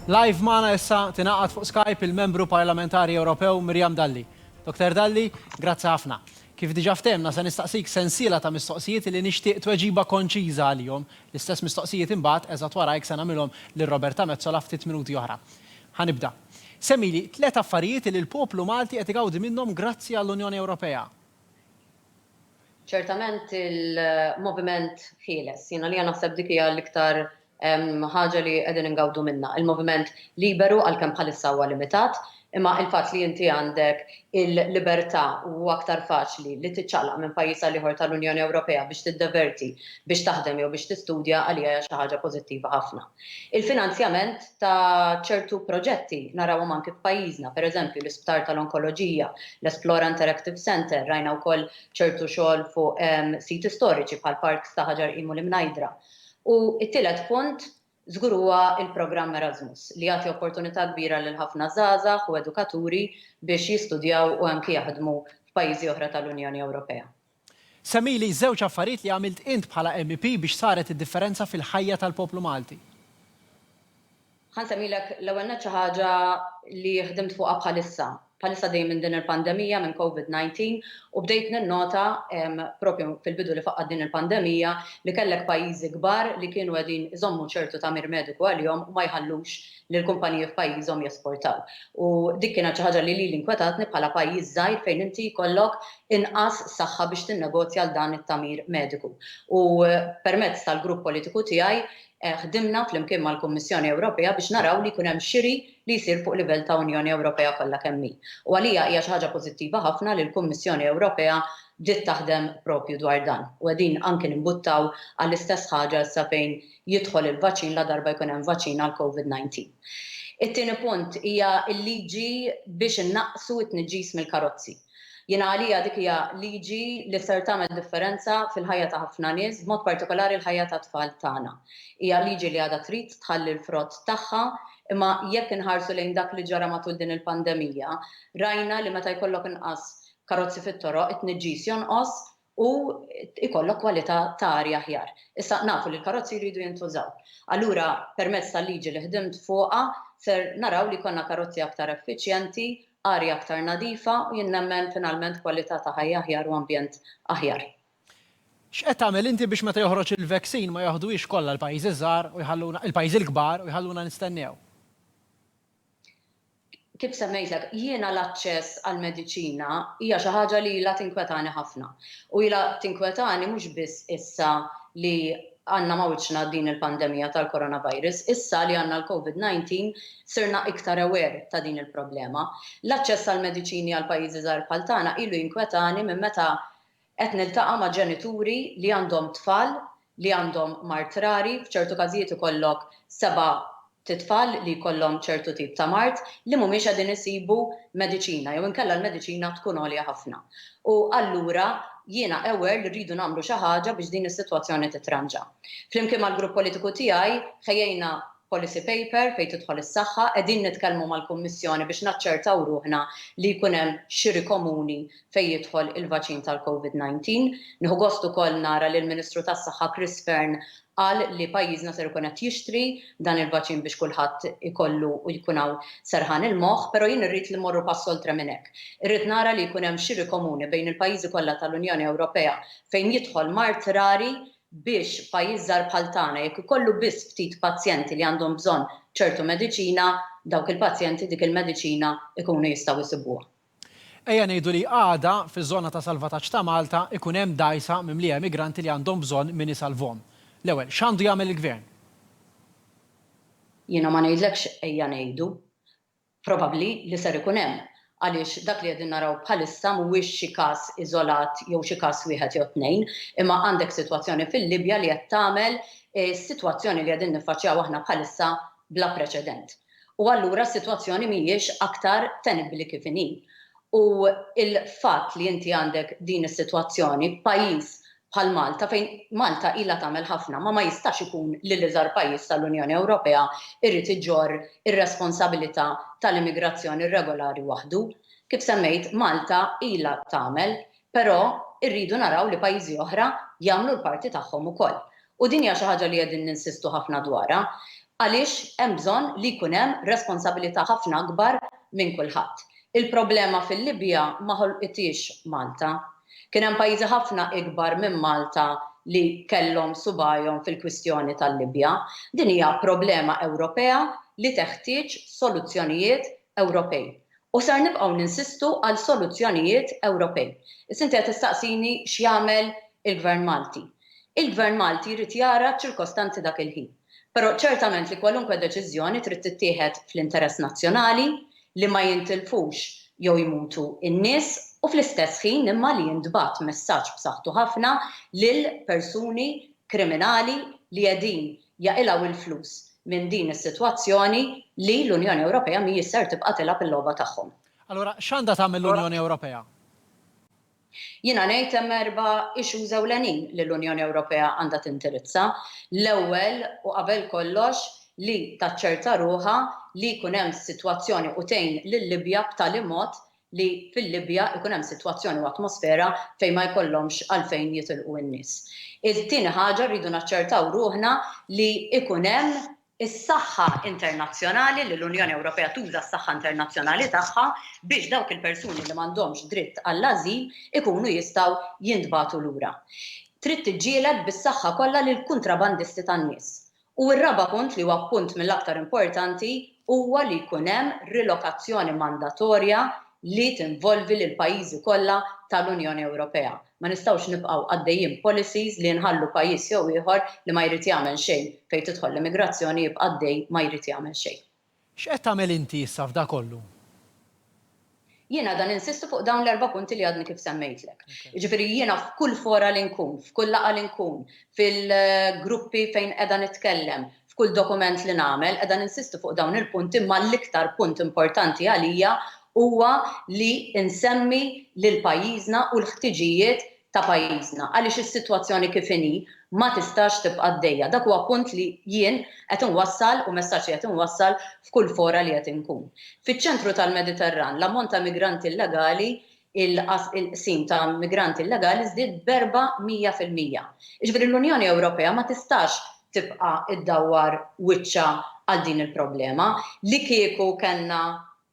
Live magħna issa tingħaqad fuq Skype il-Membru Parlamentari Ewropew Miriam Dalli. Doktor Dalli, grazzi ħafna. Kif diġà ftehmna se nistaqsik sensiela ta' mistoqsijiet li nixtieq tweġiba konċiża għalihom. L-istess mistoqsijiet imbagħad eżatt warajk se nagħmilhom lil Roberta Metsola ftit minuti oħra. Ħa nibda. Semmili tliet affarijiet li l-poplu Malti qed igawdi minnhom grazzi għall-Unjoni Ewropea. Ċertament il-moviment ħieles, jiena għalija naħseb dik hija l-iktar ħaġa li qegħdin ingawdu minnha. Il-moviment liberu għalkemm bħalissa huwa limitat, imma il-fatt li inti għandek il-libertà u huwa aktar faċli li tiċċaqlaq minn pajjiż għal ieħor tal-Unjoni Ewropea biex tiddeverti, biex taħdem jew biex tistudja għalija hija xi ħaġa pożittiva ħafna. Il-finanzjament ta' ċertu proġetti, narawhom anki f'pajjiżna, pereżempju l-Isptar tal-Onkoloġija, l-Esplora Interactive Centre, rajna wkoll ċertu xogħol fuq siti storiċi bħal parks ta' Ħaġar Qim u l-Imnajdra. U t-tielet punt żgur huwa l-programm Erasmus li jagħti opportunità kbira lil ħafna żgħażagħ u edukaturi biex jistudjaw u anki jaħdmu f'pajjiżi oħra tal-Unjoni Ewropea. Semmili żewġ affarijiet li għamilt int bħala MEP biex saret id-differenza fil-ħajja tal-poplu Malti. Ħa nsemmilek l-ewwel nett xi ħaġa li ħdimt fuqha bħalissa. Bħalissa għaddejjin minn din il-pandemija, minn Covid 19, u bdejt ninnota propju fil-bidu li faqqgħet din il-pandemija li kellek pajjiżi kbar li kienu qegħdin iżommu ċertu tagħmir mediku għalihom u ma jħallux li l-kumpaniji f'pajjiżhom jesportaw. U dik kienet xi ħaġa li lili nkwetatni bħala pajjiż żgħir fejn inti jkollok inqas saħħa biex tinnegozja għal dan it-tagħmir mediku. U permezz tal-grupp politiku tiegħi ħdimna flimkien mal-Kummissjoni Ewropea biex naraw li jkun hemm xiri li jsir fuq livell ta' Unjoni Ewropea kollha kemm hi. U għalija hija xi ħaġa pożittiva ħafna li l-Kummissjoni Ewropea bdiet taħdem propju dwar dan. U qegħdin anki nimbuttaw għall-istess ħaġa issa fejn jidħol il-vaċin ladarba jkun hemm vaċin għall-Covid 19. It-tieni punt hija l-liġi biex innaqqsu t-tniġġis mill-karozzi. Jiena għalija dik hija liġi li ser tagħmel differenza fil-ħajja ta' ħafna nies, b'mod partikolari l-ħajja tat-tfal tagħna. Hija liġi li għadha trid tħalli l-frott tagħha, imma jekk inħarsu lejn dak li ġara matul din il-pandemija, rajna li meta jkollok inqas karozzi fit-toroq, it-tniġġis jonqos u jkollok kwalità ta' arja aħjar. Issa, nafu li l-karozzi jridu jintużaw. Allura, permezz tal-liġi li ħdimt fuqha, ser naraw li jkollna karozzi aktar effiċjenti, arja aktar nadifa u jien nemmen finalment kwalità ta' ħajja aħjar u ambjent aħjar. X'qed tagħmel inti biex meta joħroġ il-vaccine ma jaħduhiex kollha l-pajjiżi ż-żgħar u jħalluna, il-pajjiżi l-kbar u jħalluna nistennew? Kif semmejtlek, jiena l-aċċess għall-mediċina hija xi ħaġa li ilha tinkwetani ħafna. U ilha tinkwetani mhux biss issa li għandna ma' wiċċna din il-pandemija tal-coronavirus. Issa li għandna l-Covid 19 sirna iktar aware ta' din il-problema. L-aċċess għall-mediċini għal pajjiżi żgħar bħal tagħna ilu jinkwetani minn meta Qed niltaqa' ma' ġenituri li għandhom tfal li għandhom mard rari, f'ċertu każijiet ikollok seba' titfal li jkollhom ċertu tip ta' mard li mhumiex qegħdin isibu mediċina jew inkella l-mediċina tkun għolja ħafna. U allura jiena aware li rridu nagħmlu xi ħaġa biex din is-sitwazzjoni titranġa. Flimkien mal-grupp politiku tiegħi ħejjejna policy paper fejn tidħol is-saħħa, qegħdin nitkellmu mal-Kummissjoni biex naċċertaw ruħna li jkun hemm xiri komuni fejn jidħol il-vaċin tal-Covid 19. Nieħu gost ukoll nara li l-Ministru tas-Saħħa Chris Fearne qal li pajjiżna ser ikun qed jixtri dan il-vaċin biex kulħadd ikollu u jkun hawn serħan il-moħħ, però jien irrid li mmorru pass oltre minn hekk. Irrid nara li jkun hemm xiri komuni bejn il-pajjiżi kollha tal-Unjoni Ewropea fejn jidħol mard rari biex pajjiż żgħar bħal tagħna jekk ikollu biss ftit pazjenti li għandhom bżonn ċertu mediċina, dawk il-pazjenti dik il-mediċina jkunu jistgħu jsibuha. Ejja ngħidu li għada, fiż-żona ta' salvataġġ ta' Malta, ikun hemm dgħajsa mimlija emigranti li għandhom bżonn min isalvhom. L-ewwel, x'għandu jagħmel il-Gvern? Jiena ma ngħidlekx ejja ngħidu. Probabbli li ser ikun hemm, għaliex dak li qegħdin naraw bħalissa mhuwiex xi każ iżolat jew xi każ wieħed jew tnejn, imma għandek sitwazzjoni fil-Libja li qed tagħmel is-sitwazzjoni li qegħdin niffaċċjaw aħna bħalissa bla preċedent. u allura s-sitwazzjoni mhijiex aktar tenibbli kif inhi. U l-fatt li inti għandek din is-sitwazzjoni f'pajjiż bħal Malta fejn Malta ilha tagħmel ħafna ma ma jistax ikun li l-iżgħar pajjiż tal-Unjoni Ewropea jrid iġorr ir-responsabilità tal-immigrazzjoni rregolari waħdu. Kif semmejt, Malta ilha tagħmel Però rridu naraw li pajjiżi oħra jagħmlu l-parti tagħhom ukoll. U din hija xi ħaġa li qegħdin ninsistu ħafna dwarha għaliex hemm bżonn li jkun hemm responsabilità ħafna akbar minn kulħadd. Il-problema fil-Libja ma ħolqithiex Malta. Kien hemm pajjiżi ħafna ikbar minn Malta li kellhom subajhom fil-kwistjoni tal-Libja. Din hija problema Ewropea li teħtieġ soluzzjonijiet Ewropej u ser nibqgħu ninsistu għal soluzzjonijiet Ewropej. Issa inti qed tistaqsini x'jagħmel il-Gvern Malti. Il-Gvern Malti jrid jara ċ-ċirkostanzi dak il-ħin. Però ċertament li kwalunkwe deċiżjoni trid tittieħed fl-interess nazzjonali, li ma jintilfux jew jmutu n-nies u fl-istess ħin imma li jintbagħat messaġġ b'saħħtu ħafna lil persuni kriminali li qegħdin jaqilgħu il-flus minn din is-sitwazzjoni li l-Unjoni Ewropea mhijiex ser tibqa' tilgħab il-logħba tagħhom. Allura x'għandha tagħmel l-Unjoni Ewropea? Jiena ngħid hemm erba' issues ewlenin li l-Unjoni Ewropea għandha tindirizza. L-ewwel u qabel kollox li taċċerta ruħha li jkun hemm sitwazzjoni u tgħin lil-Libja b'tali mod li fil-Libja jkun hemm sitwazzjoni u atmosfera fejn ma jkollhomx għalfejn jitilqu n-nies. It-tieni ħaġa rridu naċċertaw ruħna li jkun hemm is-saħħa internazzjonali, li l-Unjoni Ewropea tuża s-saħħa internazzjonali tagħha biex dawk il-persuni li m'għandhomx dritt għall-ażil ikunu jistgħu jintbagħtu lura. Trid tiġġieled bis-saħħa kollha lill-kuntrabandisti tan-nies U r-raba' punt, li huwa punt mill-aktar importanti, huwa li jkun hemm rilokazzjoni mandatorja li tinvolvi lill-pajjiżi kollha tal-Unjoni Ewropea. Ma nistgħux nibqgħu għaddejjin b'policies li nħallu pajjiż jew ieħor li ma jrid jagħmel xejn fejn tidħol l-immigrazzjoni jibqa' għaddej ma jrid jagħmel xejn. X'qed tagħmel inti issa f'dakollu? Jiena qiegħda ninsisti fuq dawn l-erba' punti li għadni kif semmejtlek. Jiġifieri jiena f'kull fora li nkun, f'kull laqgħa li nkun, fil-gruppi fejn qiegħda nitkellem, f'kull dokument li nagħmel, qiegħda ninsisti fuq dawn il-punti imma l-iktar punt importanti għalija huwa li nsemmi lil pajjiżna u l-ħtiġijiet ta' pajjiżna għaliex is-sitwazzjoni kif inhi ma tistax tibqa' għaddejja. Dak huwa punt li jien qed inwassal u messaġġ li qed inwassal f'kull fora li qed inkun. Fiċ-ċentru tal-Mediterran l-ammont ta' migranti illegali, il-qsim ta' migranti illegali żdied b'erba' mija fil-mija. Jiġifieri l-Unjoni Ewropea ma tistax tibqa' ddawwar wiċċha għal din il-problema. Li kieku kellna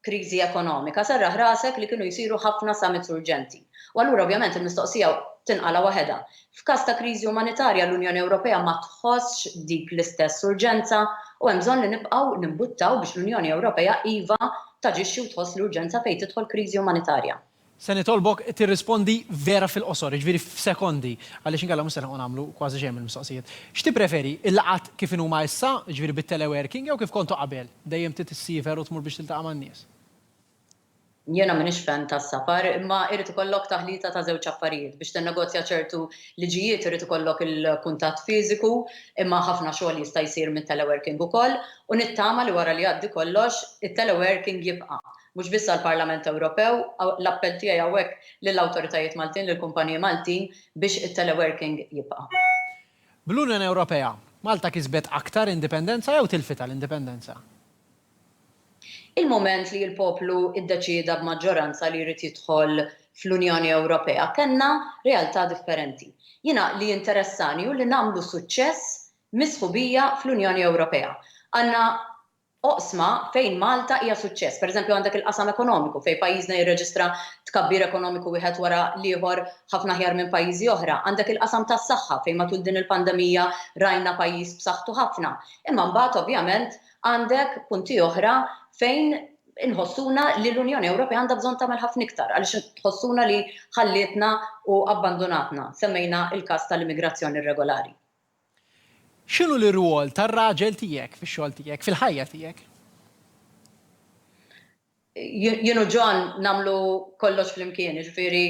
kriżi ekonomika, serraħ rasek li kienu jsiru ħafna summits urġenti. U allura ovvjament il-mistoqsija tinqala' waħedha. F'każ ta' kriżi umanitarja l-Unjoni Ewropea ma tħossx dik l-istess urġenza u hemm bżonn li nibqgħu nimbuttaw biex l-Unjoni Ewropea iva taġixxi u tħoss l-urġenza fejn tidħol kriżi umanitarja. Se nitolbok tirrispondi vera fil-qosor, jiġifieri f'sekondi, għaliex inkella mhux se nilħqu nagħmlu kważi xejn mill-mistoqsijiet. X'tippreferi, il-laqgħat kif inhuma issa, jiġifieri bit-teleworking, jew kif kontu qabel, dejjem trid issiefer u tmur biex tiltaqa' man-nies? Jiena m'iniex fan tas-safar, imma irid ikollok taħlita ta' żewġ affarijiet. Biex tinnegozja ċertu liġijiet irid ikollok il-kuntatt fiżiku, imma ħafna xogħol jista' jsir mit-teleworking ukoll, u nittama li wara li jgħaddi kollox, it-teleworking jibqa'. mhux biss għall-Parlament Ewropew, l-appell tiegħi hawnhekk lill-awtoritajiet Maltin, lill-kumpaniji Maltin biex it-teleworking jibqa'. Bl-Unjoni Ewropea, Malta kisbet aktar indipendenza jew tilfitha l-indipendenza? Il-mument li l-poplu ddeċieda b'maġġoranza li jrid jidħol fl-Unjoni Ewropea, kellna realtà differenti. Jiena li jinteressani hu li nagħmlu suċċess mis-sħubija fl-Unjoni Ewropea. Għandna oqsma fejn Malta hija suċċess. Pereżempju, għandek il-qasam ekonomiku fejn pajjiżna jirreġistra tkabbir ekonomiku wieħed wara l-ieħor ħafna aħjar minn pajjiżi oħra. Għandek il-qasam tas-saħħa fejn matul din il-pandemija rajna pajjiż b'saħħtu ħafna. Imma mbagħad ovvjament għandek punti oħra fejn inħossuna li l-Unjoni Ewropea għandha bżonn tagħmel ħafna iktar għaliex tħossuna li ħallietna u abbandunatna. Semmejna l-każ tal-immigrazzjoni irregolari. X'inhu l-irwol tar-raġel tiegħek fix-xogħol tiegħek, fil-ħajja tiegħek? Jien u John nagħmlu kollox flimkien, jiġifieri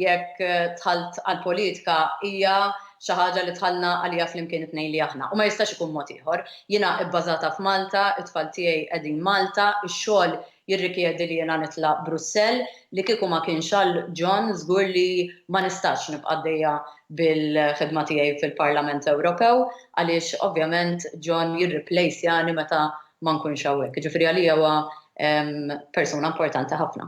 jekk dħalt għall-politika hija xi ħaġa li dħalna għaliha flimkien it-tnejn li aħna u ma jistax ikun mod ieħor. Jiena bbażata f'Malta, it-tfal tiegħi qegħdin Malta, ix-xogħol jirrikjedi li jiena nitlaq Brussell, li kieku ma kienx għal John żgur li ma nistax nibqa' għaddejja bil-ħidma tiegħi fil-Parlament Ewropew għaliex ovvjament John jirriplejsjani meta ma nkunx hawnhekk. Jiġifieri għalija huwa persuna importanti ħafna.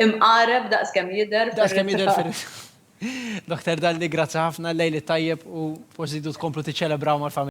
Imqareb daqs kemm jidher fir-ritratt. Daqs kemm jidher fir-ritratt. Dr. Dalli, grazzi ħafna, lejl it-tajjeb u forsi tridu tkomplu tiċċelebraw mal-familja.